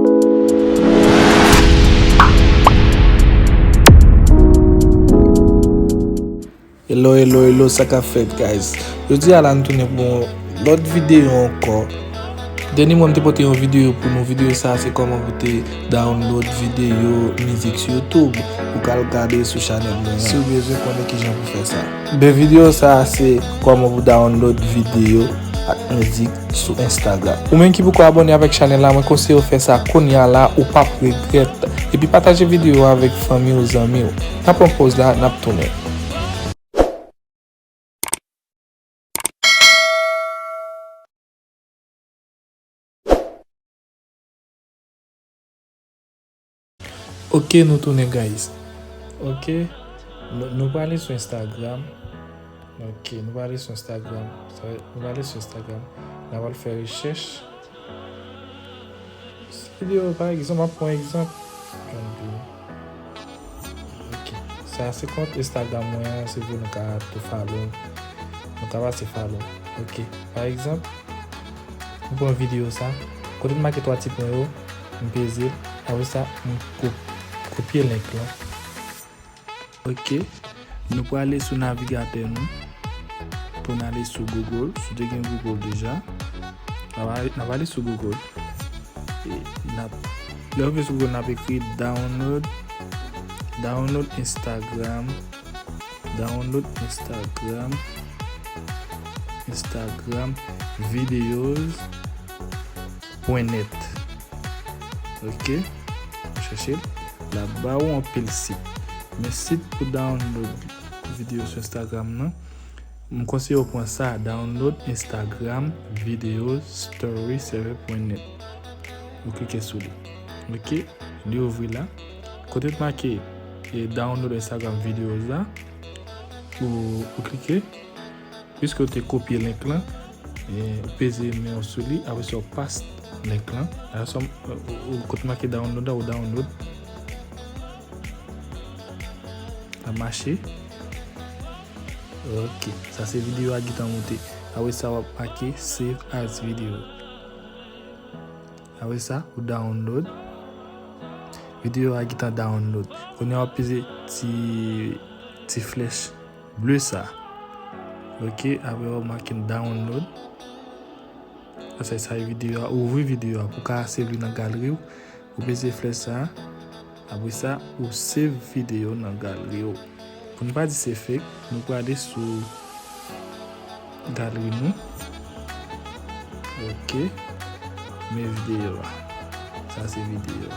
Hello hello hello sa ka fèt guys Jodi a la nou tounen pou yon lòt videyo ankò Dèni mwen te pote yon videyo pou nou videyo sa se kòman pou te download videyo mizik sou youtube pou kal gade sou chanèl mwen Si ou bezwen konnen kijan pou fè sa 2 video sa a se kòman pou download video ak mizik sou Instagram. Ou menm ki poko abòne avèk chanèl la mwen konseyew fè sa kounya la ou pap regrèt epi pataje video a avèk fanmiw zanmiw. Nan pran pòz la nap tounen. Ok nou tounen guys. Ok nou prale sou instagram. Ok nou prale sou instagram. Nou prale sou instagram. Nan wale fè rechèch. Se video pa egzanp ap pon egzanp. Ok sa se kont instagram mwen. Se vye nou ka tou falo. Nou ka pase falo. Ok pa egzanp. Nou pon video sa. Kote nou make 3 ti pon yo. M peze l. Apre sa, m kopye link lan. Ok. Nou prale sou navigatè nou pou n ale sou Google. Si w te gen Google deja, n ap ale sou Google. E n ap, lè w vin sou Google, n ap ekri download, download Instagram, download Instagram, Instagram videos. Pwen nèt ok chèche l lap ba ou anpil sit men sit pou download video sou instagram nan m konseye ou pran sa download instagram video story server pwen nèt ou klike sou li ok li ouvri la kote t make download instagram videos la ou klike. Piske ou te kopye link lan, ou peze men ou sou li, apre sa ou paste link lan, apre sa ou kote make download la ou download, lap mache, ok sa se video a ki ta moute, apre sa wap make save as video, apre sa ou download, video a ki ta download, kounye a wap peze ti flèch. Bleu sa ok apre wap make download asèk sa video a ouvri video a pou ka save li nan galeri w ou peze flèch sa apre sa ou save video nan galeri w pou nou pa di se fake nou prale sou Galri mwen. Ok. Men videyo a. Sa se videyo a.